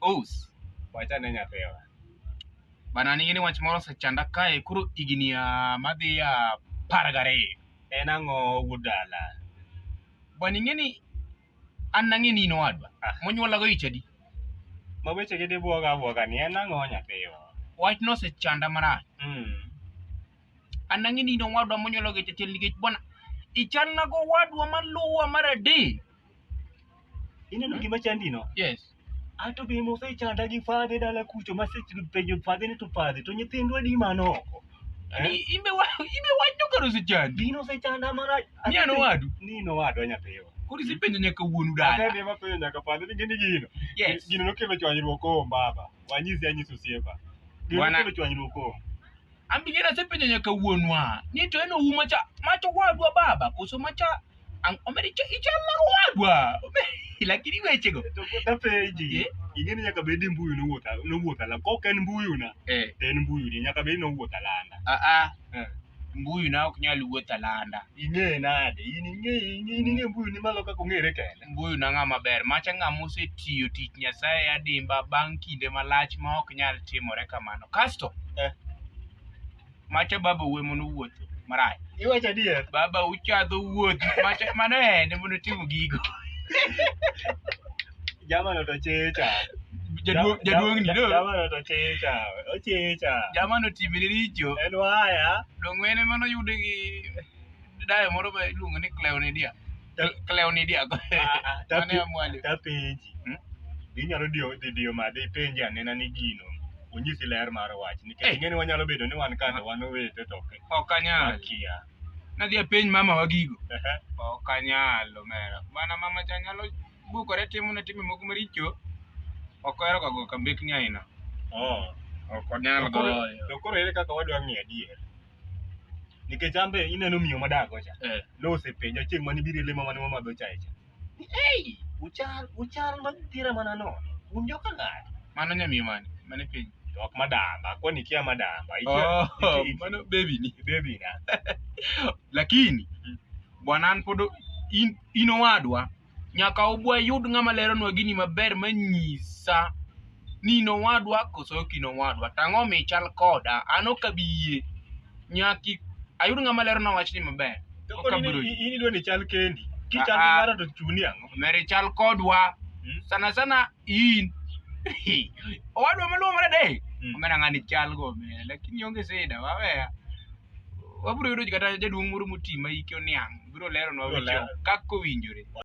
Ous, wacha ne nyathewa. Bana nigi ni wach moro osechanda kae koro higni ah, madhi ah, apar gariyo. En ang'o wuod dala? Bwana ing'e ni an nang'e ni in owadwa Ah. monyuolago ich adi? Ma weche gi dibuoga abuoga ni en ang'o nyathiwa? Wachno osechanda marach. Mm. An nang'e ni in owadwa monyuolago ich achiel nikech bwana ichalnago owadwa maluwa mar adek. Ineno gima chandino? Yes. Ato be mosechanda gi fadhe dala kucho masepenjo fadhe ni to fadhe to nyithindwa di manoko. Ni- Imbe wa- imbe wach nokaro osechandi. Dino osechanda mana. Ni an owadu. Nino wadwa nyathiwa. Koro isepenjo nyaka wuonu dala. Atende mapenjo nyaka fadhe ni gini gino. Yes. Gino nokelo chwanyruok o mbaba. Wanyisi anyisi osiepa. Gino Wana- nokelo chwanyruok o. Ambiye nasepenjo nyaka wuonwa ni to en ouma cha macho wadwa baba koso macha omeri ichal na wadwa lakini weche go to kota penji eh? ing'e ni nyaka bed mbuyu nowuoth nowuoth ala kok en mbuyu na eh. to en mbuyu ni nyaka bed nowuoth alanda a a eh. mbuyu na ok nyal wuoth alanda ing'e nade in ing'e in ing'e mbuyu ni malo kaka ong'ere kende mbuyu na ng'a maber macha ng'a mosetiyo tich nyasaye adimba bang' kinde malach ma ok nyal timore kamano kasto eh. macha baba wuwe mono wuotho marach iwacho adier baba uchadho wuoth macha mano ene mono timo gigo jamano to checha jaduong'ni do jamano to checha ochecha jamano timne richo en waya dong'wene mano yude gi dayo moro ma iluongo ni cleonidia cleonidia go mane amwali tapenji hmm? inyalo diyo dhi diyo made ipenji anena ni gino onyisi ler mar wach nikech eh. ing'eni wanyalo bedo ni wan kata wan owete to ok anyal kia nadhi apenj mama wa gigo ok anyal omera mana mama cha nyalo bukore timo na timo moko maricho ok ohero ga go kambekni aina oh. ok onyal goyo to koro ere kaka wadwa ng'e adier nikech ambe ineno miyo madago cha eh. nosepenja chieng' mane biro lemo mane wamadho chae cha ei uchal uchal madhira mana no un joka ng'ato mano nyamiyo mane mane piny ok madamba kwani kia madamba oh, mano baby ni baby na lakini bwana an pod in, in owadwa Nyaka wayud ng'ama leronwa gini maber manyisa ni in owadwa koso ok in owadwa. To ang'o omiyo ichal koda? An ok abi yie. Nyaka ayud ng'ama leronwa wachni maber. To Ok koni abiro yie. in idwa ni chal kendi. Kichal Ah, ah. gi ng'ato to chuni ang'o? Mer ichal kodwa. Mm. Sana sana in. Owadwa maluwo mara dek. Mm. Omera ng'ani chal go omera lakini onge sida waweya. Wabiro yudo kata jaduong' moro moti ma hike oniang' biro leronwa Biro weche lero. kaka owinjore.